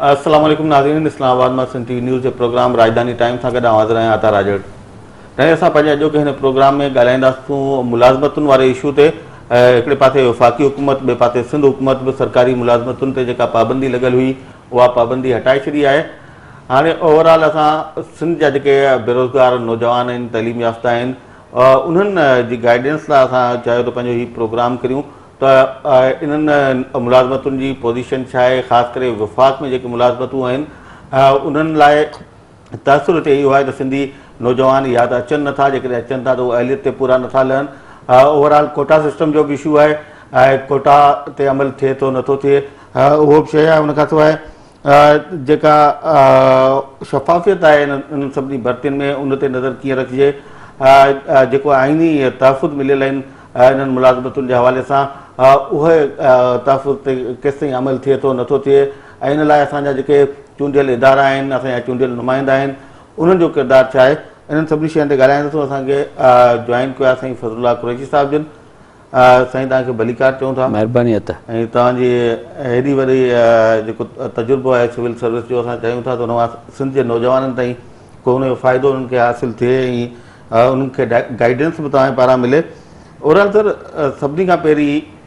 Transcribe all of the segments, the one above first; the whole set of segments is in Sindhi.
السلام عليڪم ناظرين اسلام آباد مان سنڌ ٽي وي نيوز جي پروگرام راڄڌاني ٽائيم سان گڏ آئون حاضر آهيان عطا راڄڙ ۽ اسان پنهنجي اڄوڪي هن پروگرام ۾ ڳالهائينداسون ملازمتن واري ايشو تي هڪڙي پاسي وفاقي حڪومت ٻئي پاسي سنڌ حڪومت به سرڪاري ملازمتن تي جيڪا پابندي لڳل هئي اها پابندي هٽائي ڇڏي آهي هاڻي اوور آل اسان سنڌ جا جيڪي بيروزگار نوجوان آهن تعليم يافته آهن انهن جي گائيڊنس لاء اسان چاهيو ته پنهنجو هي پروگرام ڪريون ته انهن ملازمتن جي پوزيشن ڇا آهي خاص ڪري وفاق ۾ جيڪي ملازمتون آهن انهن لاء تاثر اتي اهو آهي ته سنڌي نوجوان يا ته اچن نه ٿا جيڪڏهن اچن ٿا ته اهو اهليت تي پورا نه ٿا لهن اوور آل ڪوٽا سسٽم جو به اشو آهي ۽ ڪوٽا تي عمل ٿئي ٿو نه ٿو ٿئي اهو به شيء آهي ان کان سواء جيڪا شفافيت آهي انهن سڀني ڀرتين ۾ ان تي نظر ڪيئن رکجي جيڪو آئيني تحفظ مليل آهن انهن ملازمتن جي حوالي سان اهي تحفظ تي ڪيستائين عمل ٿئي ٿو نه ٿو ٿئي ۽ ان لاء اسان جا جيڪي چونڊيل ادارا آهن، اسان جا چونڊيل نمائندا آهن، انهن جو ڪردار ڇا آهي؟ انهن سڀني شين تي ڳالهائڻ لاء اسان کي جوائن ڪيو آهي سائين فضل الله قريشي صاحب جن. سائين توهان کي ڀليڪار چئون ٿا. مهرباني اٿ. ۽ توهان جي هيڏي وڏي جيڪو تجربو آهي سول سروس جو اسان چاهيون ٿا ته ان مان سنڌ جي نوجوانن تائين ڪو ان جو فائدو انهن کي حاصل ٿئي ۽ انهن کي گائيڊنس به توهان جي پاران ملي. اورال سر سڀني کان پهرين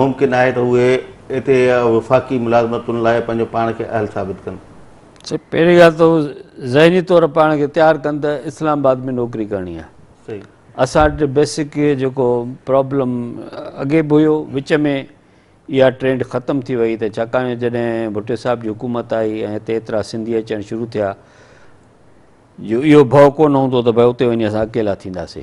ممڪن آهي ته اهي اتي وفاقي ملازمتن لاء پنهنجو پاڻ کي اهل ثابت ڪن. سائين پهرين ڳالهه ته هو ذهني طور پاڻ کي تيار ڪن ته اسلام آباد ۾ نوڪري ڪرڻي آهي. اسان وٽ بيسڪ اهي جيڪو پرابلم اڳي به هيو وچ ۾ اها ٽرينڊ ختم ٿي وئي ته ڇاڪاڻ جڏهن ڀٽي صاحب جي حڪومت آئي ۽ هتي ايترا سنڌي اچڻ شروع ٿيا جو اهو ڀؤ ڪونه هوندو ته ڀاء اتي وڃي اسان اڪيلا ٿينداسي.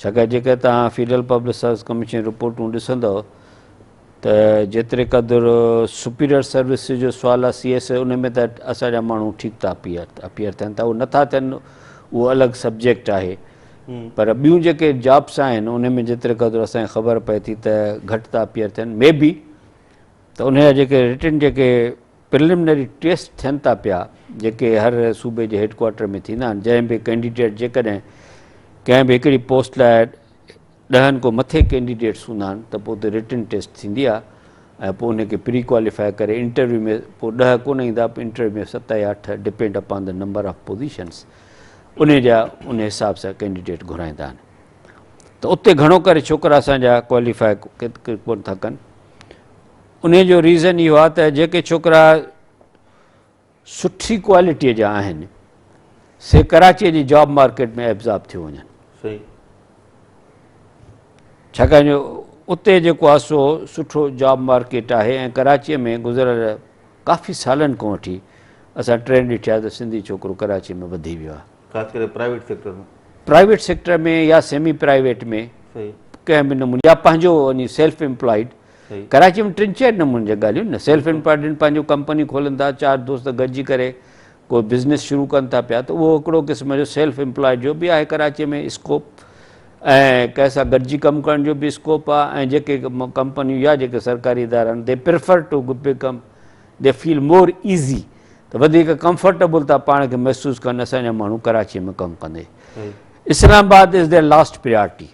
ڇاڪاڻ جيڪڏهن توهان فيڊرل پبلڪ سروس ڪميشن جي رپورٽون ڏسندؤ ته جيتري قدر سپيريئر سروسز جو سوال آهي سي ايس اي ان ۾ ته اسان جا ماڻهو ٺيڪ ٿا اپيئر اپيئر ٿين ٿا اهو نٿا ٿين اهو الڳ سبجيڪٽ آهي پر ٻيون جيڪي جابس آهن ان ۾ جيتري قدر اسانکي خبر پئي ٿي ته گهٽ ٿا اپيئر ٿين مي بي ته ان جا جيڪي رٽن جيڪي پرلمنري ٽيسٽ ٿين ٿا پيا جيڪي هر صوبي جي هيڊ ڪوارٽر ۾ ٿيندا آهن جنهن به ڪينڊيڊيٽ جيڪڏهن ڪنهن به هڪڙي پوسٽ لاء ڏهن کو مٿي ڪينڊيڊيٽس هوندا آهن ته پوء اتي رٽن ٽيسٽ ٿيندي آهي ۽ پوء ان کي پري ڪواليفائي ڪري انٽرويو ۾ پوء ڏهه ڪونه ايندا انٽرويو ۾ ست يا اٺ depend upon the number of positions ان جا ان حساب سان ڪينڊيڊيٽ گهرائيندا آهن ته اتي گهڻو ڪري ڇوڪرا اسان جا ڪواليفائي ڪون ٿا ڪن انهي جو ريزن اهو آهي ته جيڪي ڇوڪرا سٺي ڪوالٽي جا آهن سي ڪراچي جي جاب مارڪيٽ ۾ ابزاب ٿيو وڃن صحيح ڇاڪاڻ جو اتي جيڪو آهي سو سٺو جاب مارڪيٽ آهي ۽ ڪراچيء ۾ گذريل ڪافي سالن کان وٺي اسان ٽرينڊ ڏٺي آهي ته سنڌي ڇوڪرو ڪراچيء ۾ وڌي ويو آهي خاص ڪري پرائيويٽ سيڪٽر ۾ پرائيويٽ سيڪٽر ۾ يا سيمي پرائيويٽ ۾ صحيح ڪنهن به نموني يا پنهنجو وڃي سيلف امپلائيڊ ڪراچيء ۾ ٽن چئن نمونن جا ڳالهيون نه سيلف انپارڊنٽ پنهنجون ڪمپنيون کولن ٿا چار دوست گڏجي ڪري ڪو بزنس شروع ڪن ٿا پيا ته اهو هڪڙو قسم جو سيلف امپلائيڊ جو به آهي ڪراچيء ۾ اسڪوپ ۽ ڪنهن سان گڏجي ڪم ڪرڻ جو به اسڪوپ آهي ۽ جيڪي ڪمپنيون يا جيڪي سرڪاري ادارا آهن they prefer to become the feel more easy ته وڌيڪ ڪمفرٽيبل ٿا پاڻ کي محسوس ڪن اسان جا ماڻهو ڪراچيء ۾ ڪم ڪندي Islamabad is their last priority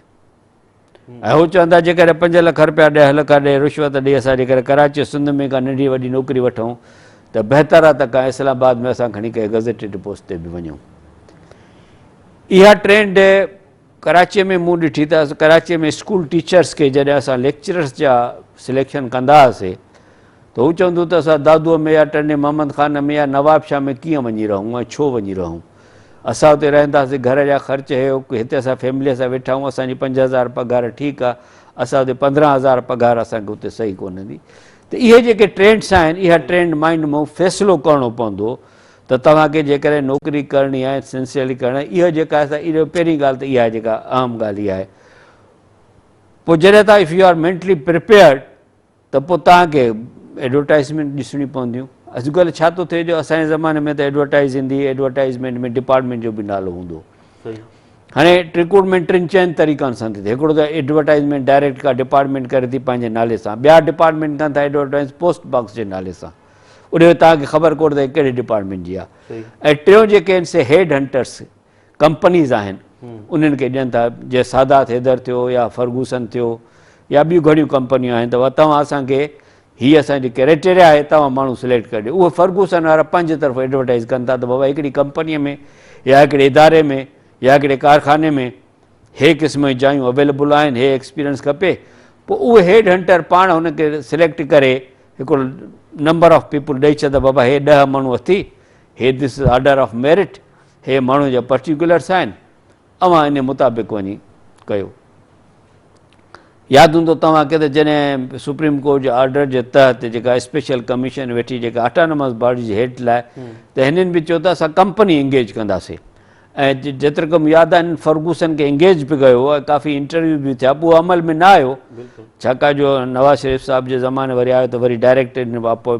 ۽ هو چون ٿا جيڪڏهن پنج لک رپيا ڏهه لک ڏئي رشوت ڏئي اسان جيڪڏهن ڪراچي سنڌ ۾ ڪا ننڍي وڏي نوڪري وٺون ته بهتر آهي ته ڪا اسلام آباد ۾ اسان کڻي ڪنهن گزيٽيڊ پوسٽ تي به وڃون اها ٽرينڊ ڪراچي ۾ مون ڏٺي ته ڪراچي ۾ اسڪول ٽيچرس کي جڏهن اسان ليڪچررس جا سليڪشن ڪندا هئاسي ته هو چوندو ته اسان دادوء ۾ يا ٽنڊي محمد خان ۾ يا نواب شاهه ۾ ڪيئن وڃي رهون ۽ ڇو وڃي رهون اسان اتي رهنداسين گهر جا خرچ هي اوڪ هتي اسان فيمليء سان ويٺا آهيون اسان جي پنج هزار پگهار ٺيڪ آهي اسان اتي پندرهن هزار پگهار اسان کي اتي صحيح ڪونه هوندي ته اهي جيڪي ٽرينڊس آهن اها ٽرينڊ مائنڊ مون فيصلو ڪرڻو پوندو ته توهان کي جيڪڏهن نوڪري ڪرڻي آهي سنسيئرلي ڪرڻي آهي اهو جيڪا اسان اهو پهرين ڳالهه ته اها جيڪا اهم ڳالهه اها آهي پوء جڏهن تان if you are mentally prepared ته پوء توهان کي ايڊورٽائيزمينٽ ڏسڻيون پونديون. اڄڪلهه ڇا ٿو ٿئي جو اسان جي زماني ۾ ته ايڊورٽائيز ايندي ايڊورٽائيزمينٽ ۾ ڊپارٽمينٽ جو به نالو هوندو هو. هاڻي رڪروٽمينٽ ٽن چئن طريقن سان ٿي ٿئي. هڪڙو ته ايڊورٽائيزمينٽ ڊائريڪٽ ڪا ڊپارٽمينٽ ڪري ٿي پنهنجي نالي سان. ٻيا ڊپارٽمينٽ ڪن ٿا ايڊورٽائيز پوسٽ باڪس جي نالي سان. اڏي توهان کي خبر ڪونه ته هي ڪهڙي ڊپارٽمينٽ جي آهي. ۽ ٽيون جيڪي آهن سي هيڊ هنٽرس ڪمپنيز آهن انهن کي ڏين ٿا جيئن سادات حيدر ٿيو يا فرگوسن ٿيو يا ٻيون گهڻيون ڪمپنيون آهن ته توهان اسان کي هي اسان جي ڪريٽيريا آهي توهان ماڻهو سليڪٽ ڪري ڏيو اهي فرگوسن وارا پنهنجي طرف ايڊورٽائز ڪن ٿا ته بابا هڪڙي ڪمپني ۾ يا هڪڙي اداري ۾ يا هڪڙي ڪارخاني ۾ هي قسم جون جايون اويليبل آهن هي ايڪسپيرينس کپي پوء اهو هيڊ هنٽر پاڻ هن کي سليڪٽ ڪري هڪڙو نمبر آف پيپل ڏئي ڇڏ بابا هي ڏهه ماڻهو اٿي هي this is order of merit هي ماڻهو جا پرٽيڪولرس آهن اوهان ان مطابق وڃي ڪيو. ياد هوندو توهان کي ته جڏهن سپريم ڪورٽ جي آرڊر جي تحت جيڪا اسپيشل ڪميشن ويٺي جيڪا اٽانومس باڊي جي هيڊ لاء ته هنن به چيو ته اسان ڪمپني انگيج ڪنداسين ۽ جيترڪ مون ياد آهن فرگوسن کي انگيج به ڪيو ۽ ڪافي انٽرويو به ٿيا پوء عمل ۾ نه آيو ڇاڪاڻ جو نواز شريف صاحب جي زماني وري آيو ته وري ڊائريڪٽ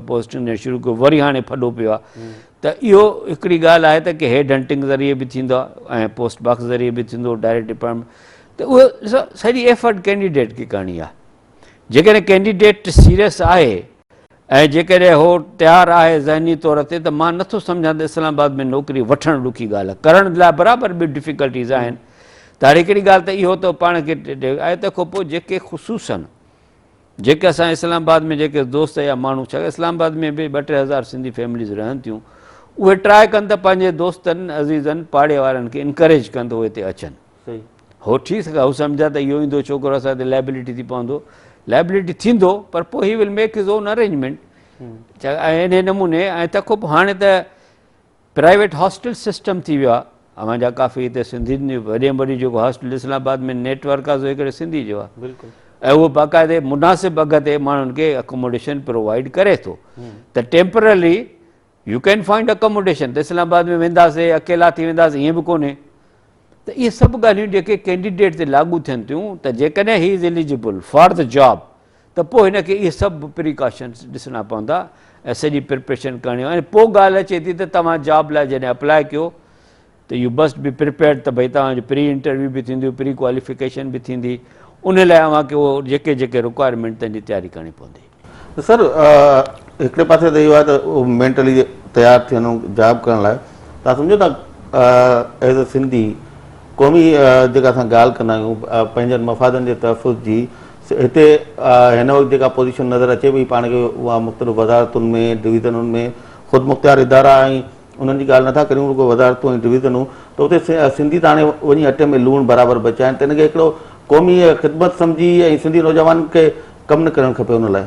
پوسٽنگ ڏيڻ شروع ڪيو وري هاڻي ڦڏو پيو آهي ته اهو هڪڙي ڳالهه آهي ته ڪي هيڊ هنٽنگ ذريعي به ٿيندو آهي ۽ پوسٽ باڪس ذريعي به ٿيندو ڊائريڪٽ ڊپارٽمينٽ ته اهو ڏسو سڄي ايفرٽ ڪينڊيڊيٽ کي ڪرڻي آهي جيڪڏهن ڪينڊيڊيٽ سيريس آهي ۽ جيڪڏهن هو تيار آهي ذهني طور تي ته مان نٿو سمجهان ته اسلام آباد ۾ نوڪري وٺڻ ڏکي ڳالهه ڪرڻ لاء برابر به ڊفيڪلٽيز آهن ته هر هڪڙي ڳالهه ته اهو ته پاڻ کي آهي تنهن کان پوء جيڪي خصوصن جيڪي اسان اسلام آباد ۾ جيڪي دوست يا ماڻهو ڇا اسلام آباد ۾ به ٻه ٽي هزار سنڌي فيمليز رهن ٿيون اهي ٽرائي ڪن ته پنهنجي دوستن عزيزن پاڙي وارن کي انڪريج ڪن ته اهي هتي اچن هو ٺي سگهي هو سمجهان ته اهو ايندو ڇوڪرو اسان تي لائبلٽي ٿي پوندو لائبلٽي ٿيندو پر پوء he will make his own arrangement ڇا ان نموني ۽ تکو هاڻي ته پرائيويٽ هاسٽل سسٽم ٿي ويو آهي اوهان جا ڪافي هتي سنڌين جي وڏي ۾ وڏي جيڪو hostel Islamabad ۾ network آهي سو هڪڙي سنڌي جو آهي بلڪل ۽ اهو باقاعدي مناسب اگهه تي ماڻهن کي اڪوموڊيشن پرووائيڊ ڪري ٿو ته temporarily you can find accommodation ته اسلام آباد ۾ وينداسي اڪيلا ٿي وينداسي ائين به ڪونهي ته اهي سڀ ڳالهيون جيڪي ڪينڊيڊيٽ تي لاڳو ٿين ٿيون ته جيڪڏهن he is eligible for the job ته پوء هن کي اهي سڀ پريڪاشنز ڏسڻا پوندا ۽ سڄي پرپريشن ڪرڻي هوندي ۽ پوء ڳالهه اچي ٿي ته توهان جاب لاء جڏهن اپلاء ڪيو ته يو مسٽ بي پرپيئرڊ ته ڀئي توهان جي پري انٽرويو به ٿينديون پري ڪواليفڪيشن به ٿيندي ان لاء اوهان کي اهو جيڪي جيڪي رڪوائرمينٽ تنهن جي تياري ڪرڻي پوندي. ته سر هڪڙي پاسي ته اهو آهي ته مينٽلي تيار ٿيڻو جاب ڪرڻ لاء تان سمجهو ٿا ايز اي سنڌي قومي جيڪا اسان ڳالهه ڪندا آهيون پنهنجن مفادن جي تحفظ جي هتي هن وقت جيڪا پوزيشن نظر اچي پئي پاڻ کي اها مختلف وزارتن ۾ ڊويزنن ۾ خودمختيار ادارا ۽ انهن جي ڳالهه نٿا ڪريون رڳو وزارتون ۽ ڊويزنون ته اتي سنڌي ته هاڻي وڃي اٽي ۾ لوڻ برابر به چائين ته ان کي هڪڙو قومي خدمت سمجهي ۽ سنڌي نوجوانن کي ڪم نه ڪرڻ کپي ان لاء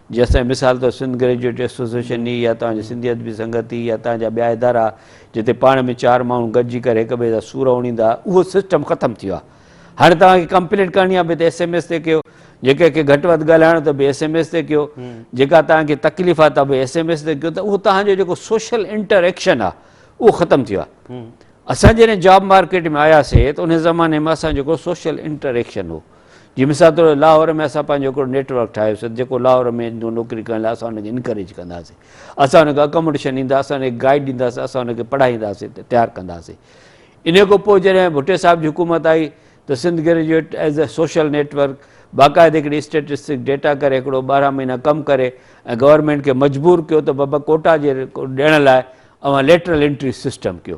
جي اسان جي مثال طور سنڌ گريجوئيٽ ايسوسيئيشن ئي يا توهان جي سنڌي ادبي سنگت ئي يا توهان جا ٻيا ادارا جتي پاڻ ۾ چار ماڻهو گڏجي ڪري هڪ ٻئي جا سور اوڻيندا ها اهو سسٽم ختم ٿي ويو آهي هاڻي توهان کي ڪمپلينٽ ڪرڻي آهي به ته ايس ايم ايس تي ڪيو جي ڪنهن کي گهٽ وڌ ڳالهائڻو ته به ايس ايم ايس تي ڪيو جيڪا توهان کي تڪليف آهي ته به ايس ايم ايس تي ڪيو ته اهو توهان جو جيڪو سوشل انٽر ايڪشن آهي اهو ختم ٿي ويو آهي اسان جڏهن جاب مارڪيٽ ۾ آياسي ته ان زماني ۾ اسان جيڪو سوشل انٽر ايڪشن هو جي مثال طور لاهور ۾ اسان پنهنجو هڪڙو نيٽ ورڪ ٺاهيو سي جيڪو لاهور ۾ ايندو نوڪري ڪرڻ لاء اسان ان کي انڪريج ڪنداسي اسان ان کي اڪاموڊيشن ڏيندا اسان ان کي گائيڊ ڏينداسي اسان ان کي پڙهائينداسي تيار ڪنداسي ان کان پوء جڏهن ڀٽي صاحب جي حڪومت آئي ته Sindh graduate as a social network باقاعده هڪڙي اسٽيٽسٽڪ ڊيٽا ڪري هڪڙو ٻارهن مهينا ڪم ڪري ۽ گورنمنٽ کي مجبور ڪيو ته بابا ڪوٽا جي ڏيڻ لاء اوهان ليٽرل انٽري سسٽم ڪيو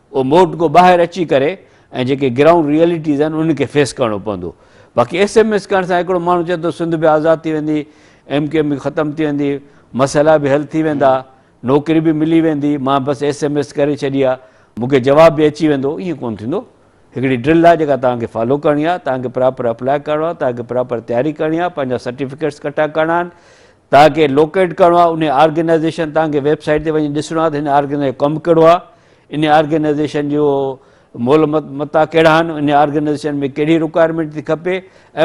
اهو موڊ گو ٻاهر اچي ڪري ۽ جيڪي گرائونڊ ريئلٽيز آهن انهن کي فيس ڪرڻو پوندو باقي ايس ايم ايس ڪرڻ سان هڪڙو ماڻهو چئي ٿو سنڌ به آزاد ٿي ويندي ايم ڪيو ايم به ختم ٿي ويندي مسئلا به حل ٿي ويندا نوڪري به ملي ويندي مان بس ايس ايم ايس ڪري ڇڏي آ مون کي جواب به اچي ويندو ائين ڪون ٿيندو هڪڙي ڊرل آهي جيڪا توهان کي فالو ڪرڻي آهي توهان کي پراپر اپلاء ڪرڻو آهي توهان کي پراپر تياري ڪرڻي آهي پنهنجا سرٽيفڪيٽس ڪٺا ڪرڻا آهن توهان کي لوڪيٽ ڪرڻو آهي انهي آرگنائيزيشن توهان کي ويب سائيٽ تي وڃي ڏسڻو آهي ته هن آرگنائيزيشن جو ڪم ڪهڙو آهي انهي آرگنائيزيشن جو مول متا ڪهڙا آهن انهي آرگنائيزيشن ۾ ڪهڙي رڪوائرمينٽ ٿي کپي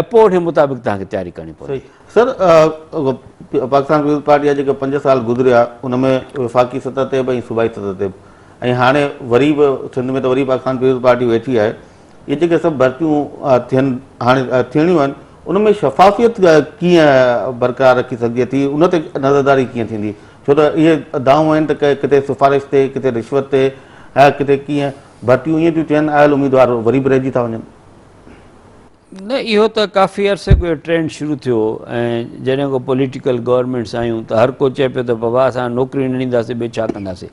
۽ پوء انهي مطابق توهان کي تياري ڪرڻي پوندي. سر پاڪستان پيپلز پارٽي جا جيڪي پنج سال گذريا ان ۾ وفاقي سطح تي به ۽ صوبائي سطح تي به ۽ هاڻي وري به سنڌ ۾ ته وري پاڪستان پيپلز پارٽي ويٺي آهي اهي جيڪي سڀ ڀرتيون ٿين هاڻي ٿيڻيون آهن ان ۾ شفافيت ڪيئن برقرار رکي سگهجي ٿي ان تي نظرداري ڪيئن ٿيندي ڇو ته اهي دانهون آهن ته ڪٿي سفارش تي ڪٿي رشوت تي ۽ ڪٿي ڪيئن ڀرتيون ائين ٿيون ٿين آيل اميدوار وري به رهجي ٿا وڃن نه اهو ته ڪافي عرصي کان ٽرينڊ شروع ٿيو ۽ جڏهن کو پوليٽيڪل گورنمينٽس آيون ته هر ڪو چئي پيو ته بابا اسان نوڪري نه ڏينداسين ٻيو ڇا ڪنداسين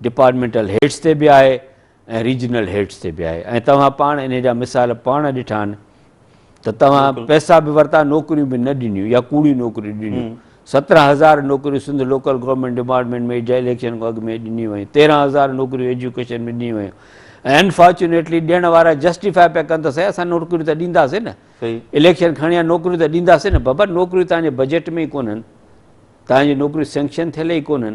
ڊپارٽمينٽل هيڊس تي به آهي ۽ ريجنل هيڊس تي به آهي ۽ توهان پاڻ انهي جا مثال پاڻ ڏٺا آهن ته توهان پئسا به ورتا نوڪريون به نه ڏنيون يا ڪوڙيون نوڪريون ڏنيون سترهن هزار نوڪريون سنڌ لوڪل گورنمينٽ ڊپارٽمينٽ ۾ جنهن اليڪشن کان اڳ ۾ ڏنيون ويون تيرهن هزار نوڪريون ايجوڪيشن ۾ ڏنيون ويون ۽ انفارچونيٽلي ڏيڻ وارا جسٽيفاء پيا ڪن ته سائين اسان نوڪريون ته ڏينداسين نه اليڪشن کڻي آيا نوڪريون ته ڏينداسين نه بابا نوڪريون تنهنجي بجيٽ ۾ ئي ڪونهن تنهنجي نوڪريون سينڪشن ٿيل ئي ڪونهن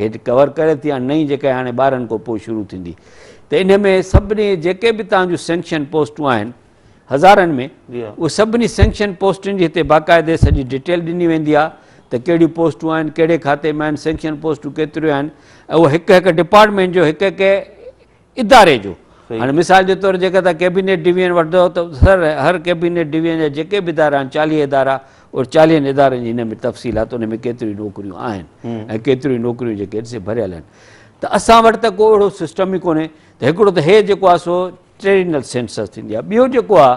هيٺ ڪور ڪري ٿي ۽ نئين جيڪا هاڻي ٻارهن کان پوء شروع ٿيندي ته ان ۾ سڀني جيڪي به تهان جون سينڪشن پوسٽون آهن هزارن ۾ اهي سڀني سينڪشن پوسٽن جي هتي باقاعدي سڄي ڊيٽيل ڏني ويندي آهي ته ڪهڙيون پوسٽون آهن ڪهڙي کاتي ۾ آهن سينڪشن پوسٽون ڪيتريون آهن ۽ اهو هڪ هڪ ڊپارٽمينٽ جو هڪ هڪ اداري جو هاڻي مثال جي طور جيڪر تان ڪيبينيٽ ڊويزن وٺندو ته سر هر ڪيبينيٽ ڊويزن جا جيڪي به ادارا آهن چاليهه ادارا اور چاليهن ادارن جي هن ۾ تفصيل آهي ته ان ۾ ڪيتريون نوڪريون آهن ۽ ڪيتريون نوڪريون جيڪي آهن سي ڀريل آهن ته اسان وٽ ته ڪو اهڙو سسٽم ئي ڪونهي ته هڪڙو ته هي جيڪو آهي سو ٽريڊينل سينسس ٿيندي آهي ٻيو جيڪو آهي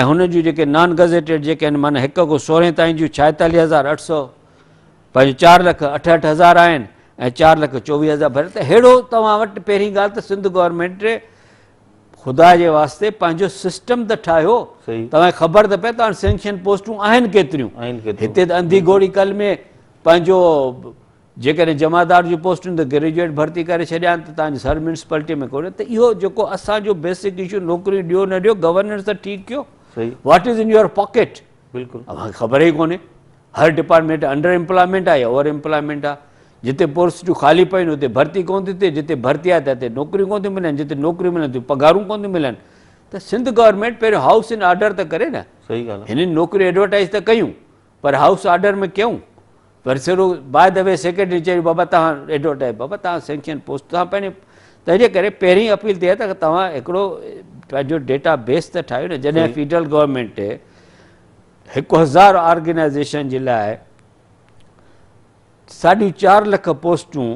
۽ هن جون جيڪي نان گزيٽيڊ جيڪي آهن معنيٰ هڪ کان سورهين تائين جون ڇائيتاليهه هزار اٺ سؤ پنهنجو چار لک اٺهٺ هزار آهن ۽ چار لک چوويهه هزار ڀري ته ههڙو توهان وٽ پهرين ڳالهه ته سنڌ گورنمنٽ خدا جي واسطي پنهنجو سسٽم ته ٺاهيو توهان خبر ته پئي ته هاڻي سينڪشن پوسٽون آهن ڪيتريون هتي ته انڌي گهوڙي ڪل ۾ پنهنجو جيڪڏهن جمعدار جون پوسٽون ته گريجوئيٽ ڀرتي ڪري ڇڏيان ته تنهنجي سر ميونسپلٽي ۾ ڪونهي ته اهو جيڪو اسان جو بيسڪ اشو نوڪريون ڏيو نه ڏيو گورننس ته ٺيڪ ڪيو what is in your pocket بلڪل اوهان کي خبر ئي ڪونهي هر ڊپارٽمنٽ انڊر امپلائمنٽ آهي اوور امپلائمنٽ آهي جتي پوسٽون خالي پيون اتي ڀرتي ڪون ٿي ٿئي جتي ڀرتي آهي ته اتي نوڪريون ڪون ٿيون ملن جتي نوڪريون ملن تي پگهارون ڪون ٿيون ملن ته سنڌ گورنمنٹ پهريون هائوس ان آرڊر ته ڪري نه صحيح ڳالهه هنن نوڪريون ايڊورٽائز ته ڪيون پر هائوس آرڊر ۾ ڪيون پر سرو باء دي وي سيڪريٽري چيو بابا تهان ايڊورٽائز بابا تهان سينڪشن پوسٽ تهان پنهنجي تنهنجي ڪري پهرين اپيل تي ته تهان هڪڙو پنهنجو ڊيٽا بيس ته ٺاهيو نه جڏهن فيڊرل گورنمنٽ هڪ هزار آرگنائزيشن جي لاء ساڍي چار لک پوسٽون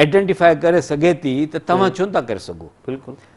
آئيڊينٽيفائي ڪري سگهي ٿي ته توهان ڇو نٿا ڪري سگهو بلڪل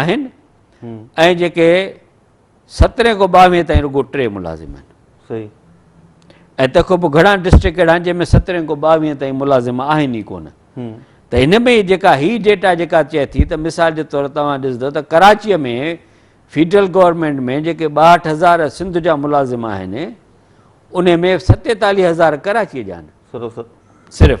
آهن ۽ جيڪي سترهين کان ٻاوهين تائين رڳو ٽي ملازم آهن صحيح ۽ تنهن کان پوء گهڻا ڊسٽرڪٽ اهڙا آهن جنهن ۾ سترهين کان ٻاوهين تائين ملازم آهن ئي ڪونه ته هن ۾ جيڪا هي ڊيٽا جيڪا چئي ٿي ته مثال جي طور توهان ڏسندو ته ڪراچيء ۾ فيڊرل گورنمنٽ ۾ جيڪي ٻاهٺ هزار سنڌ جا ملازم آهن ان ۾ ستيتاليهه هزار ڪراچيء جا آهن صرف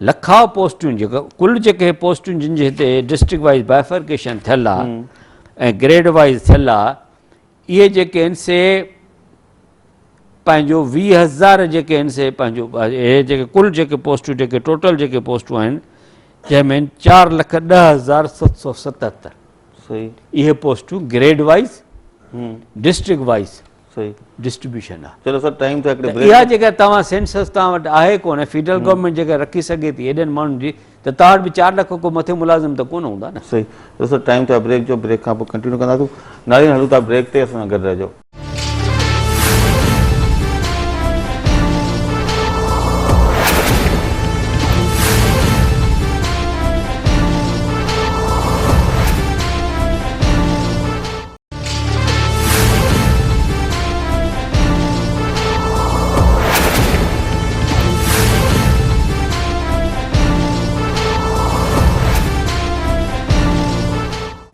لکاء پوسٽون جيڪو ڪل جيڪي پوسٽون جن جي هتي ڊسٽرڪٽ وائز بائفرڪيشن ٿيل آ ۽ گريڊ وائز ٿيل آ اهي جيڪي آهن سي پنهنجو ويهه هزار جيڪي آهن سي پنهنجو اهي جيڪي ڪل جيڪي پوسٽون جيڪي ٽوٽل جيڪي پوسٽون آهن جنهن ۾ چار لک ڏه هزار ست سو ستهتر اهي پوسٽون grade wise district wise distribution آ چلو سر ٽائيم ٿيو ته اها جيڪا توهان سينسس توهان وٽ آهي ڪونه فيڊرل گورنمينٽ جيڪا رکي سگهي ٿي هيڏن ماڻهن جي ته توهان وٽ به چار لک کان مٿي ملازم ته ڪونه هوندا نه صحيح چلو سر ٽائيم ٿيو آ بريڪ جو بريڪ کان پوء ڪنٽينيو ڪنداسون ناظرين هلون ٿا بريڪ تي اسان سان گڏ رهجو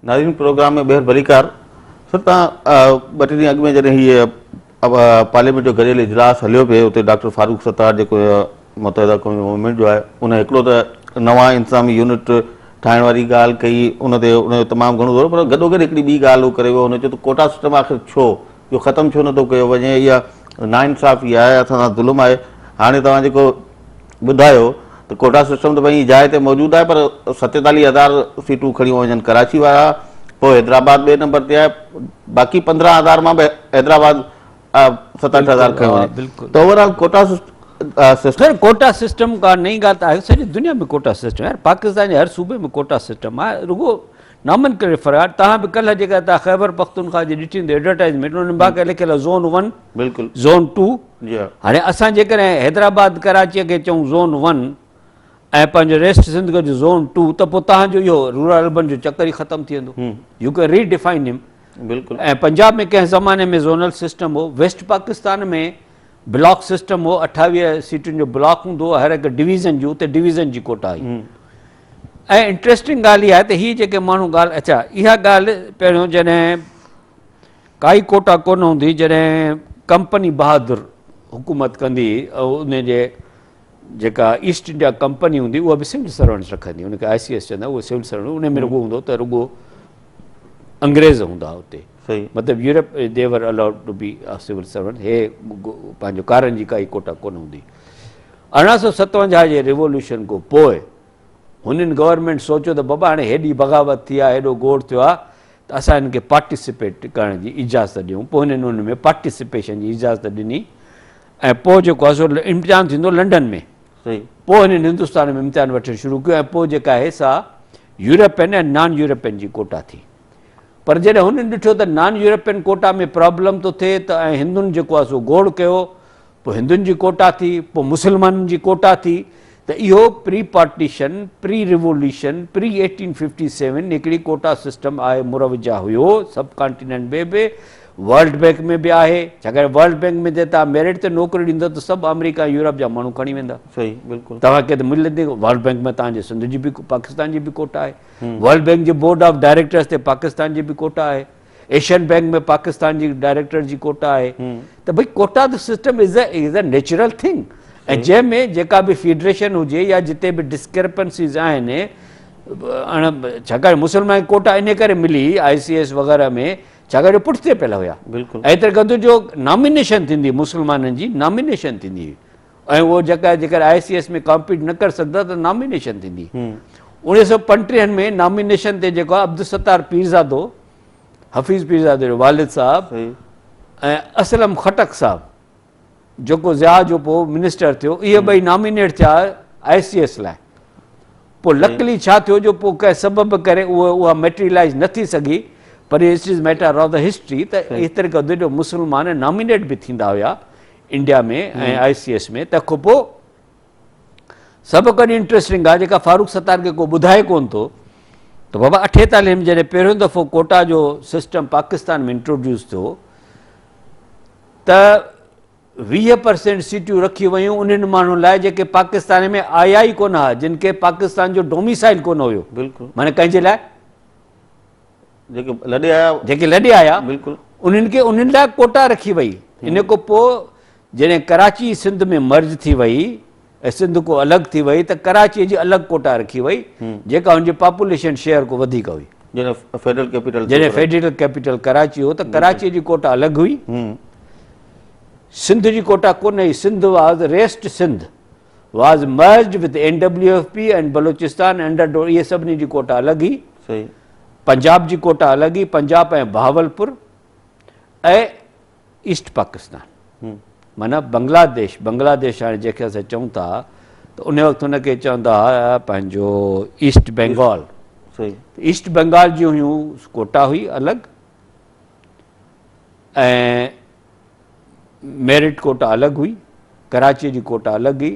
ناظرين پروگرام ۾ ٻيهر ڀليڪار سر توهان ٻه ٽي ڏينهن اڳ ۾ جڏهن هي پارليامينٽ جو گڏيل اجلاس هليو پئي اتي ڊاڪٽر فاروق ستار جيڪو متحده قومي موومينٽ جو آهي ان هڪڙو ته نوان انتظامي يونٽ ٺاهڻ واري ڳالهه ڪئي ان تي ان جو تمام گهڻو زور پر گڏو گڏ هڪڙي ٻي ڳالهه هو ڪري ويو هن چيو ته ڪوٽا سسٽم آخر ڇو جو ختم ڇو نٿو ڪيو وڃي اها ناانصافي آهي اسان سان ظلم آهي هاڻي توهان جيڪو ٻڌايو ته ڪوٽا سسٽم ته پنهنجي جاء تي موجود آهي پر ستيتاليهه هزار سيٽون کڻي وڃن ڪراچي وارا پوء حيدرآباد ٻئي نمبر تي آهي باقي پندرهن هزار مان به حيدرآباد ست اٺ هزار کڻي وڃي ته overall quota system quota system ڪا نئين ڳالهه ته آهي سڄي دنيا ۾ ڪوٽا سسٽم آهي پاڪستان جي هر صوبي ۾ ڪوٽا سسٽم آهي رڳو نامن ڪري فرار توهان به ڪلهه جيڪا خيبر پختونخوا جي ڏٺي هوندي ايڊورٽائزمينٽ ان باقاعده لکيل زون ون بلڪل زون ٽو هاڻي اسان جيڪڏهن حيدرآباد ڪراچيء کي چئون زون ون ۽ پنهنجو ريسٽ سنڌ ڪجو زون ٽو ته پوء توهان جو اهو رورل اربن جو چڪر ئي ختم ٿي ويندو. يو ڪين ري ڊفائن هيم. ۽ پنجاب ۾ ڪنهن زماني ۾ زونل سسٽم هو، ويسٽ پاڪستان ۾ بلاڪ سسٽم هو، اٺاويهه سيٽن جو بلاڪ هوندو هو، هر هڪ ڊويزن جو اتي ڊويزن جي ڪوٽا هئي. ۽ انٽريسٽنگ ڳالهه اها آهي ته هي جيڪي ماڻهو ڳالهه اچا اها ڳالهه پهريون جڏهن ڪائي ڪوٽا ڪونه هوندي جڏهن ڪمپني بهادر حڪومت ڪندي ان جي جيڪا ايسٽ انڊيا ڪمپني هوندي اها به سول سرونٽس رکندي ان کي آء سي ايس چوندا اهو سول سرونٽ ان ۾ رڳو هوندو ته رڳو انگريز هوندا اتي مطلب Europe they were allowed to be civil servant هي پنهنجو ڪارن جي ڪائي ڪوٽا ڪونه هوندي ارڙهن سو ستونجاهه جي ريولوشن کان پوء هنن گورنمينٽ سوچيو ته بابا هاڻي هيڏي بغاوت ٿي آهي هيڏو گوڙ ٿيو آهي ته اسان هنن کي پارٽيسپيٽ ڪرڻ جي اجازت ڏيون پوء هنن ان ۾ پارٽيسپيشن جي اجازت ڏني ۽ پوء جيڪو آهي سو امتحان ٿيندو لنڊن ۾ پوء هنن هندستان ۾ امتحان وٺڻ شروع ڪيو ۽ پوء جيڪا آهي سا يورپين ۽ نان يورپين جي ڪوٽا ٿي پر جڏهن هنن ڏٺو ته نان يورپين ڪوٽا ۾ پرابلم ٿو ٿئي ته ۽ هندن جيڪو آهي سو گوڙ ڪيو پوء هندن جي ڪوٽا ٿي، پوء مسلمانن جي ڪوٽا ٿي ته اهو pre partition, pre revolution, pre eighteen fifty seven هڪڙي ڪوٽا سسٽم آء مروجه هيو سب ڪانٽيننٽ ۾ به، ورلڊ بئنڪ ۾ به آهي، ڇاڪاڻ ورلڊ بئنڪ ۾ ته توهان ميرٽ تي نوڪري ڏيندو ته سڀ آمريڪا ۽ يورپ جا ماڻهو کڻي ويندا. صحيح بلڪل. توهان کي ته ملت ڏي ورلڊ بئنڪ ۾ توهان جي سنڌ جي به پاڪستان جي به ڪوٽا آهي. ورلڊ بئنڪ جي بورڊ آف ڊائريڪٽرز تي پاڪستان جي به ڪوٽا آهي. ايشين بينڪ ۾ پاڪستان جي ڊائريڪٽر جي ڪوٽا آهي ته ڀئي ڪوٽا ته system is a natural thing ۽ جنهن ۾ جيڪا به فيڊريشن هجي يا جتي به ڊسڪرپنسيز آهن اڻ ڇاڪاڻ مسلمان ڪوٽا ان ڪري ملي آء سي ايس وغيره ۾ ڇاڪاڻ جو پٺتي پيل هيا بالڪل ايتر گند جو نامينيشن ٿيندي مسلمانن جي نامينيشن ٿيندي هئي ۽ اهو جڳهه جيڪڏهن آء سي ايس ۾ ڪامپيٽ نه ڪري سگهندا ته نامينيشن ٿيندي اڻيويھ سؤ پنٽيهن ۾ نامينيشن تي جيڪو عبدالستار پيرزادو حفيظ پيرزادو جو والد صاحب ۽ اسلم خٽڪ صاحب جيڪو ضياء جو پو منسٽر ٿيو اهي ٻئي نامينيٽ ٿيا آء سي ايس لاء پوء لڪلي ڇا ٿيو جو پوء ڪنهن سبب ڪري اهو اها ميٽريلائز نه ٿي سگهي پر it is matter of the history ته هي طريقو جو مسلمان نامينيٽ به ٿيندا هيا انڊيا ۾ ۽ آء سي ايس ۾ تنهن کان پوء سڀ کان انٽرسٽنگ ڳالهه جيڪا فاروق ستار کي ڪو ٻڌائي ڪون ٿو ته بابا اٺيتاليه ۾ جڏهن پهريون دفعو ڪوٽا جو سسٽم پاڪستان ۾ انٽروڊيوس ٿيو ته ويهه پرسينٽ سيٽيون رکيون ويون انهن ماڻهن لاء جيڪي پاڪستان ۾ آيا ئي ڪونه هئا جن کي پاڪستان جو ڊوميسائل ڪونه هيو مانا ڪنهن جي لاء جيڪي لڏي آيا جيڪي لڏي آيا بلڪل انهن کي انهن لاء ڪوٽا رکي وئي ان کان پوء جڏهن ڪراچي سنڌ ۾ مرج ٿي وئي ۽ سنڌ کو الڳ ٿي وئي ته ڪراچي جي الڳ ڪوٽا رکي وئي جيڪا ان جي پاپوليشن شيئر کان وڌيڪ هئي جڏهن فيڊرل ڪيپيٽل جڏهن فيڊرل ڪيپيٽل ڪراچي هو ته ڪراچي جي ڪوٽا الڳ هئي سنڌ جي ڪوٽا ڪونه هئي Sindh was rest Sindh was merged with N W F P and Balochistan under ڊو اهي سڀني جي ڪوٽا الڳ هئي صحيح پنجاب جي ڪوٽا الڳ هئي پنجاب ۽ بهاولپور ۽ ايسٽ پاڪستان معنی بنگلاديش بنگلاديش هاڻي جنهن کي اسان چون ٿا ته ان وقت هن کي چوندا هئا پنهنجو ايسٽ بنگال صحيح ايسٽ بنگال جون هيون ڪوٽا هئي الڳ ۽ ميرٽ ڪوٽا الڳ هئي، ڪراچيء جي ڪوٽا الڳ هئي،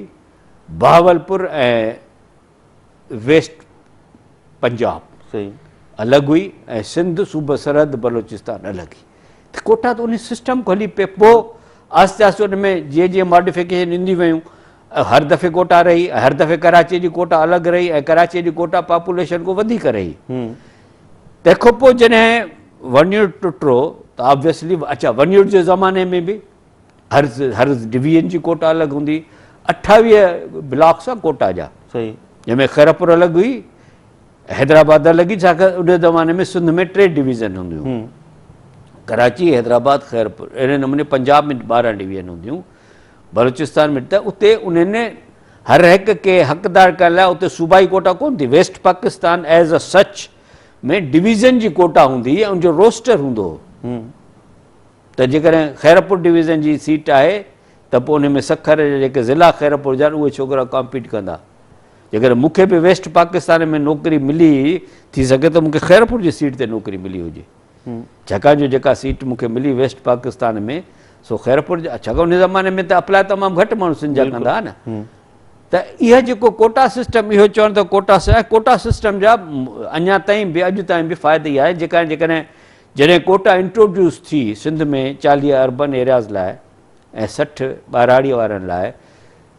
بهاولپور ۽ ويسٽ پنجاب الڳ هئي ۽ سنڌ صوبه سرحد بلوچستان الڳ هئي ته ڪوٽا ته ان سسٽم کان هلي پئي پوء آهستي آهستي ان ۾ جيئن جيئن ماڊيفڪيشن ايندي ويون هر دفعي ڪوٽا رهي هر دفعي ڪراچيء جي ڪوٽا الڳ رهي ۽ ڪراچيء جي ڪوٽا پاپوليشن کان وڌيڪ رهي تنهن کان پوء جڏهن ون يونٽ ٽٽو ته آبويسلي اچا ون يونٽ جي زماني ۾ به هر هر ڊويزن جي ڪوٽا الڳ هوندي اٺاويهه بلاڪس آ ڪوٽا جا صحيح جنهن ۾ خيرپور الڳ هئي حيدرآباد الڳ هئي ڇاڪاڻ ان زماني ۾ سنڌ ۾ ٽي ڊويزن هونديون هيون ڪراچي حيدرآباد خيرپور اهڙي نموني پنجاب ۾ ٻارهن ڊويزن هونديون بلوچستان ۾ ته اتي انهن هر هڪ کي حقدار ڪرڻ لاء اتي صوبائي ڪوٽا ڪونه ٿي، west Pakistan as a such ۾ division جي ڪوٽا هوندي هئي ۽ ان جو روسٽر هوندو هو ته جيڪڏهن خيرپور ڊويزن جي سيٽ آهي ته پوء ان ۾ سکر جا جيڪي ضلع خيرپور جا آهن اهي ڇوڪرا ڪامپيٽ ڪندا، جيڪڏهن مون کي به ويسٽ پاڪستان ۾ نوڪري ملي ٿي سگهي ته مون کي خيرپور جي سيٽ تي نوڪري ملي هجي. ڇاڪاڻ جو جيڪا سيٽ مون کي ملي ويسٽ پاڪستان ۾ سو خيرپور جا ڇاڪاڻ ان زماني ۾ ته اپلاء تمام گهٽ ماڻهو سنڌ جا ڪندا نه ته اها جيڪو ڪوٽا سسٽم اهو چون ته ڪوٽا ڪوٽا سسٽم جا اڃا تائين به اڄ تائين به فائدو ئي آهي جيڪا جيڪڏهن جڏهن ڪوٽا انٽروڊيوس ٿي سنڌ ۾ چاليهه اربن ايرياز لاء ۽ سٺ ٻاراڙي وارن لاء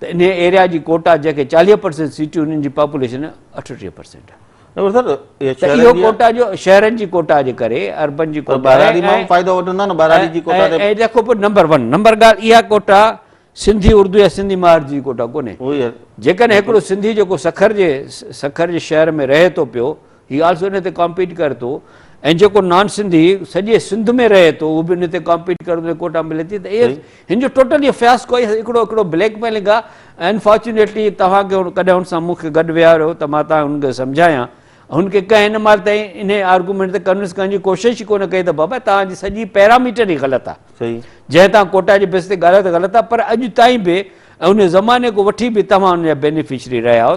ته انهيء ايريا جي ڪوٽا جنهن کي چاليهه پرسينٽ سيٽيون ان جي پاپوليشن اٺٽيهه پرسينٽ آهي. ته اهو ڪوٽا جو شهرن جي ڪوٽا جي ڪري اربن جي ڪوٽا ۽ تکو پور نمبر ون نمبر ڳالهه اها ڪوٽا سنڌي اردو يا سنڌي مهاجر جي ڪوٽا ڪونهي جيڪڏهن هڪڙو سنڌي جيڪو سکر جي سکر جي شهر ۾ رهي ٿو پيو هي آلسو ان تي ڪامپيٽ ڪري ٿو ۽ جيڪو نان سنڌي سڄي سنڌ ۾ رهي ٿو اهو به ان تي ڪامپيٽ ڪري ٿو ڪوٽا ملي ٿي ته هن جو ٽوٽل اهو فياسڪو آهي هڪڙو هڪڙو بليڪ ميلنگ آهي انفارچونيٽلي توهان کي ڪڏهن هن سان مون کي گڏ ويهاريو ته مان تان هن کي سمجهايان هن کي ڪنهن هن مال تائين ان آرگومينٽ تي ڪنوينس ڪرڻ جي ڪوشش ئي ڪونه ڪئي ته بابا تانجي سڄي پيراميٽر ئي غلط آهي جنهن تان ڪوٽا جي بيس تي ڳالهايو ته غلط آهي پر اڄ تائين به ان زماني کان وٺي به توهان ان جا بينيفشري رهيا آهيو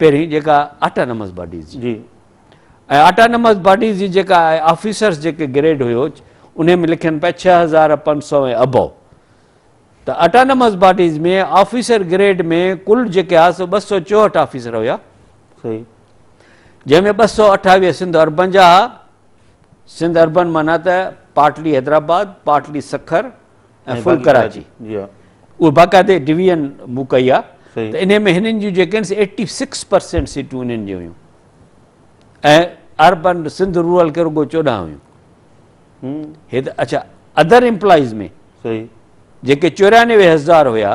پهرين جيڪا آٽانمس باڊيز جي جي ۽ آٽانمس باڊيز جي جيڪا آفيسرس جيڪي گريڊ هيو انهي ۾ لکن پيا ڇهه هزار پنج سؤ ۽ ابو ته آٽانمس باڊيز ۾ آفيسر گريڊ ۾ ڪل جيڪي آ سو ٻه سؤ چوهٺ آفيسر هيا صحيح جنهن ۾ ٻه سؤ اٺاويهه سنڌ اربن جا سنڌ اربن مانا ته partly Hyderabad partly Sukkur ۽ full Karachi اهي باقاعدي ڊويزن مون ڪئي آ ته انهي ۾ هنن جون جيڪي آهن سي ايٽي سڪس پرسينٽ سيٽون انهن جون هيون ۽ اربن سنڌ رورل کي رڳو چوڏهن هيون هي ته اڇا ادر امپلائيز ۾ جيڪي چوريانوي هزار هيا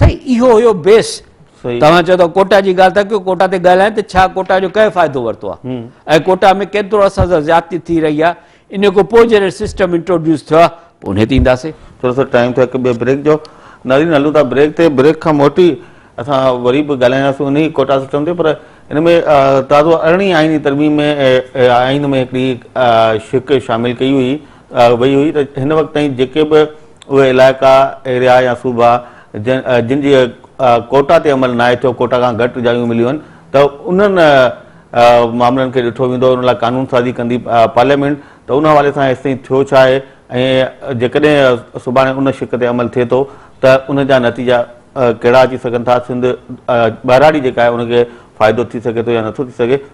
سائين اهو هيو بيس توهان چئو ٿا ڪوٽا جي ڳالهه ٿا ڪيو ڪوٽا تي ڳالهايان ته ڇا ڪوٽا جو ڪنهن فائدو ورتو آهي ۽ ڪوٽا ۾ ڪيترو اسان سان زيادتي ٿي رهي آهي ان کان پوء جڏهن سسٽم انٽروڊيوس ٿيو آهي پوء ان تي اينداسي ٿورو سو ٽائيم ٿيو هڪ ٻئي بريڪ جو نارين هلون ٿا بريڪ تي بريڪ کان موٽي اسان وري به ڳالهائينداسون انهي ڪوٽا سسٽم تي پر ان ۾ تازو ارڙهين آئيني ترميم ۾ آئين ۾ هڪڙي شق شامل ڪئي هئي وئي هئي ته هن وقت تائين جيڪي به اهي علائقا، ايريا يا صوبا جن جي ڪوٽا تي عمل ناهي ٿيو، ڪوٽا کان گهٽ جايون مليون آهن ته انهن معاملن کي ڏٺو ويندو، ان لاء قانون سازي ڪندي پارليامينٽ ته ان حوالي سان هيستائين ٿيو ڇا آهي ۽ جيڪڏهن سڀاڻي ان شق تي عمل ٿئي ٿو ته ان جا نتيجا ڪهڙا اچي سگهن ٿا، سنڌ ٻهراڙي جيڪا آهي ان کي فائدو ٿي سگهي ٿو يا نٿو ٿي سگهي.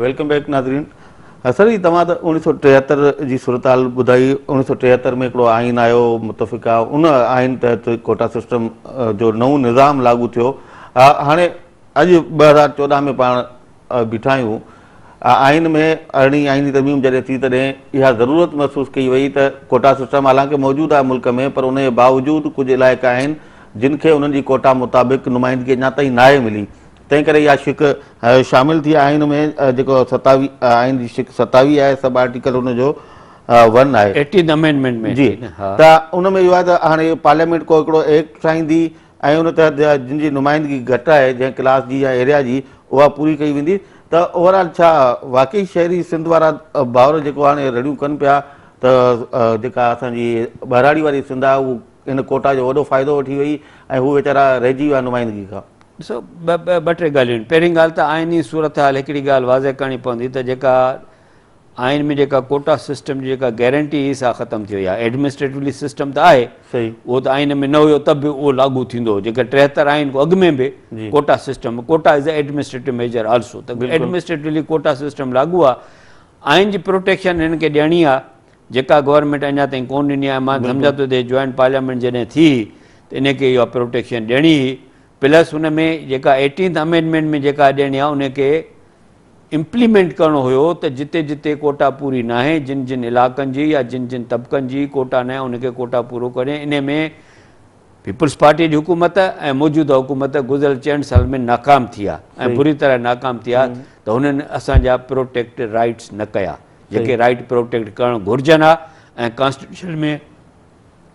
ويلڪم بيڪ ناظرين سر جي توهان ته اوڻيھ سؤ ٽيهتر جي صورتحال ٻڌائي اوڻيھ سؤ ٽيهتر ۾ هڪڙو آئين آيو متفقا ان آئين تحت ڪوٽا سسٽم جو نئون نظام لاڳو ٿيو هاڻي اڄ ٻه هزار چوڏهن ۾ پاڻ بيٺا آهيون آئين ۾ ارڙهين آئيني ترميم جڏهن ٿي تڏهن اها ضرورت محسوس ڪئي وئي ته ڪوٽا سسٽم حالانڪه موجود آهي ملڪ ۾ پر ان جي باوجود ڪجهه علائقا آهن جن کي انهن جي ڪوٽا مطابق نمائندگي اڃا تائين ناهي ملي تنهن ڪري اها شق شامل ٿي آئين ۾ جيڪو ستاوي آئين جي شق ستاوي آهي سب آرٽيڪل ان جو ون آهي ايٽين امينڊمينٽ ۾ جي ته ان ۾ اهو آهي ته هاڻي پارليامينٽ ڪو هڪڙو ايڪٽ ٺاهيندي ۽ ان تحت جن جي نمائندگي گهٽ آهي جنهن ڪلاس جي يا ايريا جي اها پوري ڪئي ويندي ته اوورآل ڇا واقعي شهري سنڌ وارا ڀاؤر جيڪو هاڻي رڙيون ڪن پيا ته جيڪا اسان جي ٻهراڙي واري سنڌ آهي اهو ان ڪوٽا جو وڏو فائدو وٺي وئي ۽ هو ويچارا رهجي ويا نمائندگي کان. ڏسو، ٻه ٽي ڳالهيون آهن. پهرين ڳالهه ته آئيني صورتحال هڪڙي ڳالهه واضح ڪرڻي پوندي ته جيڪا آئين ۾ جيڪا ڪوٽا سسٽم جي جيڪا گيرنٽي هئي سا ختم ٿي وئي آهي. ايڊمنسٽريٽولي سسٽم ته آهي، اهو ته آئين ۾ نه هيو ته به اهو لاڳو ٿيندو هو. جيڪا ٽيهتر آئين کان اڳ ۾ به quota system, quota is a administrative measure also, ته ايڊمنسٽريٽولي ڪوٽا سسٽم لاڳو آهي. آئين جي پروٽيڪشن هنن کي ڏيڻي آهي، جيڪا گورنمينٽ اڃا تائين ڪون ڏني آهي مان سمجهان ٿو ته جوائنٽ پارليامينٽ جڏهن ٿي ته انهي کي اها پروٽيڪشن ڏيڻي هئي پلس ان ۾ جيڪا ايٽينٿ امينڊمينٽ ۾ جيڪا ڏيڻي آهي انهي کي امپليمينٽ ڪرڻو هيو ته جتي جتي ڪوٽا پوري ناهي جن جن علاقن جي يا جن جن طبقن جي ڪوٽا ناهي انهي کي ڪوٽا پورو ڪري انهي ۾ پيپلز پارٽي جي حڪومت ۽ موجوده حڪومت گذريل چئن سالن ۾ ناڪام ٿي آهي ۽ بري طرح ناڪام ٿي آهي ته هنن اسان جا پروٽيڪٽ رائيٽس نه ڪيا. جيڪي رائيٽ پروٽيڪٽ ڪرڻ گهرجن ها ۽ ڪانسٽيٽيوشن ۾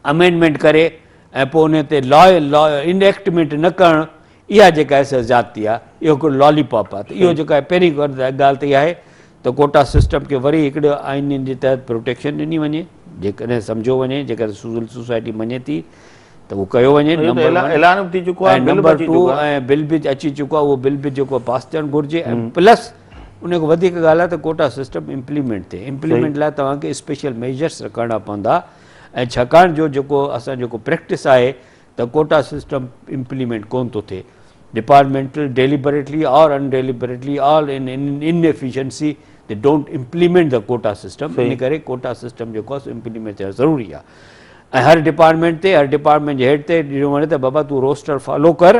امينڊمينٽ ڪري ۽ پوء ان تي لا لا انيڪٽمينٽ نه ڪرڻ اها جيڪا ايس زيادتي آ اهو هڪڙو لالي پاپ آ ته اهو جيڪا آهي پهرين ڳالهه ته اها آهي ته ڪوٽا سسٽم کي وري هڪڙو آئينين جي تحت پروٽيڪشن ڏني وڃي جيڪڏهن سمجھو وڃي جيڪڏهن سول سوسائٽي مڃي ٿي ته اهو ڪيو وڃي نمبر ٽو ۽ بل به اچي چڪو آ اهو بل به جيڪو پاس ٿيڻ گهرجي ۽ پلس انهيء کان وڌيڪ ڳالهه آهي ته ڪوٽا سسٽم امپليمينٽ ٿئي. امپليمينٽ لاء توهان کي اسپيشل ميجرس رکڻا پوندا ۽ ڇاڪاڻ جو جيڪو اسان جيڪو پريڪٽس آهي ته ڪوٽا سسٽم امپليمينٽ ڪونه ٿو ٿئي. Departmental deliberately or in deliberately all in in efficiency they don't implement the quota system ان ڪري ڪوٽا سسٽم جيڪو آهي سو امپليمينٽ ٿيڻ ضروري آهي ۽ هر ڊپارٽمينٽ تي هر ڊپارٽمينٽ جي هيڊ تي ڏنو وڃي ته بابا تون روسٽر فالو ڪر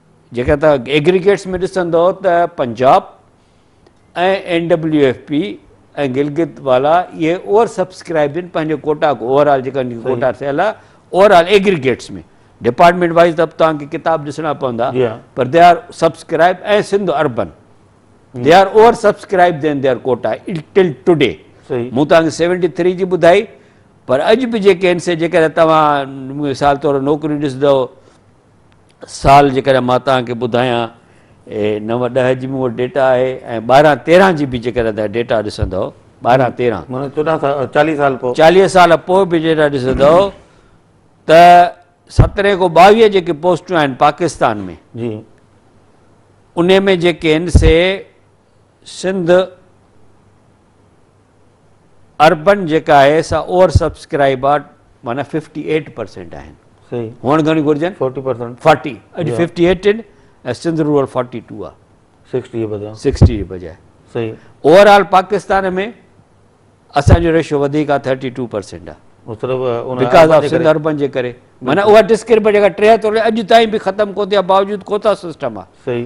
جيڪڏهن توهان ايگريگيٽس ۾ ڏسندؤ ته Punjab ۽ N W F P ۽ Gilgit والا اهي اوور سبسڪرائب آهن پنهنجي ڪوٽا کو اوور آل جيڪا ڪوٽا ٿيل آهي overall aggregates ۾ department wise ته توهان کي ڪتاب ڏسڻا پوندا پر they are subscribe ۽ Sindh urban they are over subscribe then they are quota till today مون توهان کي سيونٽي ٿري جي ٻڌائي پر اڄ به جيڪي آهن سي جيڪڏهن توهان مثال طور نوڪريون ڏسندؤ سال جيڪڏهن مان توهان کي ٻڌايان نو ڏهه جي مون وٽ ڊيٽا آهي ۽ ٻارهن تيرهن جي به جيڪڏهن تان ڊيٽا ڏسندو ٻارهن تيرهن چاليهه سال پوء چاليهه سال پوء به ڊيٽا ڏسندو ته سترهن کان ٻاويهه جيڪي پوسٽون آهن پاڪستان ۾ جي ان ۾ جيڪي آهن سي سنڌ اربن جيڪا آهي سا اوور سبسڪرائب آ معنيٰ ففٽي ايٽ پرسينٽ آهن هئڻ گهڻي گهرجن فورٽي پرسينٽ فورٽي اڄ ففٽي ايٽ آهن ۽ سنڌ رورل فورٽي ٽو آ سڪسٽي بدران سڪسٽي جي بجاء صحيح اوور آل پاڪستان ۾ اسانجو ريشو وڌيڪ آ ٿرٽي ٽو پرسينٽ آ مطلب بيڪاز آف سنڌ اربن جي ڪري معنيٰ اوور ڊسڪريبل جيڪا ٽيهتر اڄ تائين به ختم ڪو ٿي آ باوجود ڪوتا سسٽم آ صحيح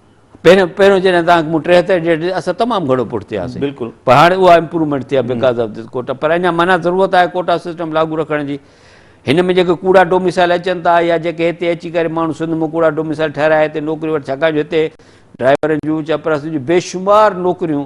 پهريون پهريون جڏهن توهان مون ٽيهتر ڊيٽ اسان تمام گهڻو پٺ ٿياسين بلڪل پر هاڻي اها امپروومينٽ ٿي آهي بڪاز آف دس ڪوٽا پر اڃا مانا ضرورت آهي ڪوٽا سسٽم لاڳو رکڻ جي هن ۾ جيڪي ڪوڙا ڊوميسائل اچن ٿا يا جيڪي هتي اچي ڪري ماڻهو سنڌ ۾ ڪوڙا ڊوميسائل ٺهرائي هتي نوڪري وٺ ڇاڪاڻ جو هتي ڊرائيورن جون چپراسن جون بيشمار نوڪريون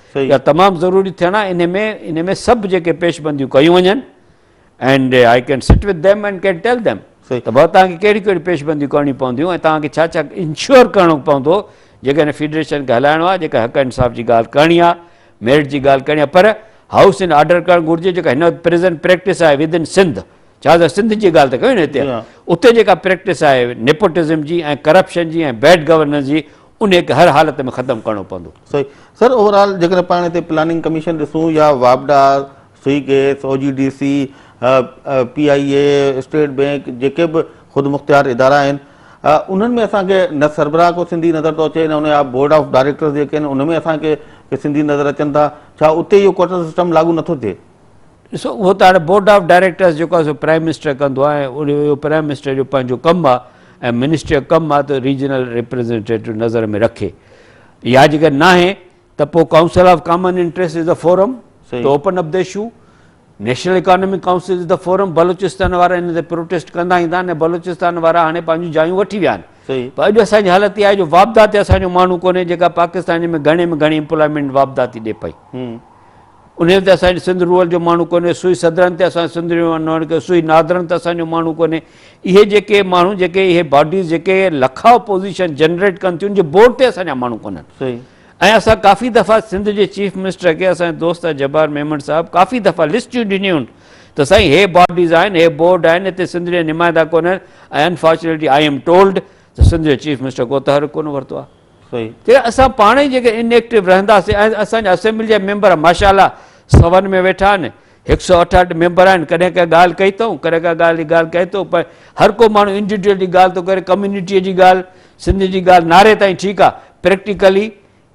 اها تمام ضروري ٿيڻ آهي انهي ۾ انهي ۾ سڀ جيڪي پيش بنديون ڪيون وڃن and I can sit with them and can tell them ته ڀاء تهان کي ڪهڙي ڪهڙي پيش بنديون ڪرڻيون پونديون ۽ تهان کي ڇا ڇا انشور ڪرڻو پوندو جيڪا هن فيڊريشن کي هلائڻو آهي جيڪا حق انصاف جي ڳالهه ڪرڻي آهي ميرٽ جي ڳالهه ڪرڻي آهي پر هائوس ان آرڊر ڪرڻ گهرجي جيڪا هن وقت پريزنٽ پريڪٽس آهي ود ان سنڌ ڇا ته سنڌ جي ڳالهه ته ڪيو نه هتي اتي جيڪا پريڪٽس آهي نيپوٽزم جي ۽ ڪرپشن جي ۽ بيڊ گورننس جي انهيء کي هر حالت ۾ ختم ڪرڻو پوندو. صحيح سر اوور آل جيڪڏهن پاڻ هتي پلاننگ ڪميشن ڏسون يا واپڊا، Sui gas, O G D C, P I A, State Bank جيڪي به خودمختيار ادارا آهن انهن ۾ اسان کي نه سربراهه ڪو سنڌي نظر ٿو اچي نه ان جا بورڊ آف ڊائريڪٽرز جيڪي آهن ان ۾ اسان کي سنڌي نظر اچن ٿا ڇا اتي اهو ڪوٽا سسٽم لاڳو نٿو ٿئي؟ ڏسو اهو ته هاڻي بورڊ آف ڊائريڪٽرس جيڪو آهي سو پرائم منسٽر ڪندو آهي ۽ ان جو پرائم منسٽر جو پنهنجو ڪم آهي ۽ منسٽري جو ڪم آهي ته ريجنل ريپريزنٽيٽو نظر ۾ رکي يا جيڪر ناهي ته پوء council of common interest is the forum to open up the issue national economic council is the forum Balochistan وارا ان تي پروٹيسٽ ڪندا ايندا آهن بلوچستان وارا هاڻي پنهنجون جايون وٺي ويا آهن پر اڄ اسان جي حالت اها آهي جو واپدا تي اسان جو ماڻهو ڪونهي جيڪا پاڪستان ۾ گهڻي ۾ گهڻي امپلائمينٽ واپدا ٿي ڏي پئي انهيء تي اسان جي سنڌ رول جو ماڻهو ڪونهي، سوئي صدرن تي اسان جو سنڌ رول جو ماڻهو ڪونهي، سوئي نادرن تي اسان جو ماڻهو ڪونهي. اهي جيڪي ماڻهو، جيڪي اهي باڊيز جيڪي لکا اپوزيشن جنريٽ ڪن ٿيون، ان جي بورڊ تي اسان جا ماڻهو ڪونهن. ۽ اسان ڪافي دفعا سنڌ جي چيف منسٽر کي اسان جي دوست جبار ميمڻ صاحب ڪافي دفعا لسٽيون ڏنيون ته سائين هي باڊيز آهن، هي بورڊ آهن، هتي سنڌ جا نمائندا ڪونهن ۽ انفارچونيٽلي آء ايم ٽولڊ ته سنڌ جو چيف منسٽر ڪو تحرڪ ڪونه ورتو آهي. جيڪڏهن اسان پاڻ ئي جيڪڏهن ان ايڪٽو رهنداسين ۽ اسان جا اسيمبلي جا ميمبر ماشا الله سون ۾ ويٺا آهن هڪ سؤ اٺهٺ ميمبر آهن ڪڏهن ڪا ڳالهه ڪئي اٿئون ڪڏهن ڪا ڳالهه جي ڳالهه ڪئي اٿئون پر هر ڪو ماڻهو انڊيوڊيل جي ڳالهه ٿو ڪري ڪميونٽي جي ڳالهه سنڌ جي ڳالهه نعري تائين ٺيڪ آهي پريڪٽيڪلي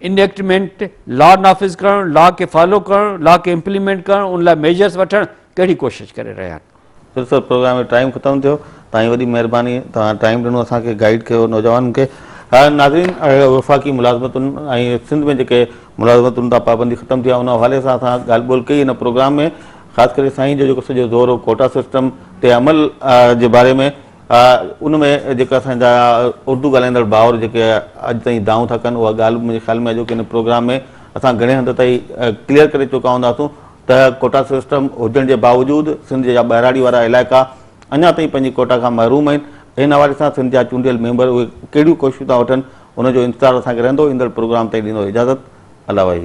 انيڪٽمينٽ لا نافذ ڪرڻ لا کي فالو ڪرڻ لا کي امپليمينٽ ڪرڻ ان لاء ميجرس وٺڻ ڪهڙي ڪوشش ڪري رهيا آهن پرسر پروگرام جو ٽائيم ختم ٿيو توهان جي وڏي مهرباني توهان ٽائيم ڏنو اسان کي گائيڊ ڪيو نوجوانن کي ناظرين وفاقي ملازمتن ۽ سنڌ ۾ جيڪي ملازمتن تان پابندي ختم ٿي آهي ان حوالي سان اسان ڳالهه ٻولهه ڪئي ان پروگرام ۾ خاص ڪري سائين جو جيڪو سڄو زور هو ڪوٽا سسٽم تي عمل جي باري ۾ ان ۾ جيڪا اسانجا اردو ڳالهائيندڙ ڀائر جيڪي اڄ تائين دانهون ٿا ڪن اها ڳالهه منهنجي خيال ۾ اڄوڪي ان پروگرام ۾ اسان گهڻي حد تائين ڪليئر ڪري چڪا هونداسون ته ڪوٽا سسٽم هجڻ جي باوجود سنڌ جا ٻهراڙي وارا علائقا اڃا تائين پنهنجي ڪوٽا کان محروم آهن، ان حوالي سان سنڌ جا چونڊيل ميمبر اهي ڪهڙيون ڪوششون ٿا وٺن ان جو انتظار اسان کي رهندو، ايندڙ پروگرام تائين ڏيندو اجازت الله وحي.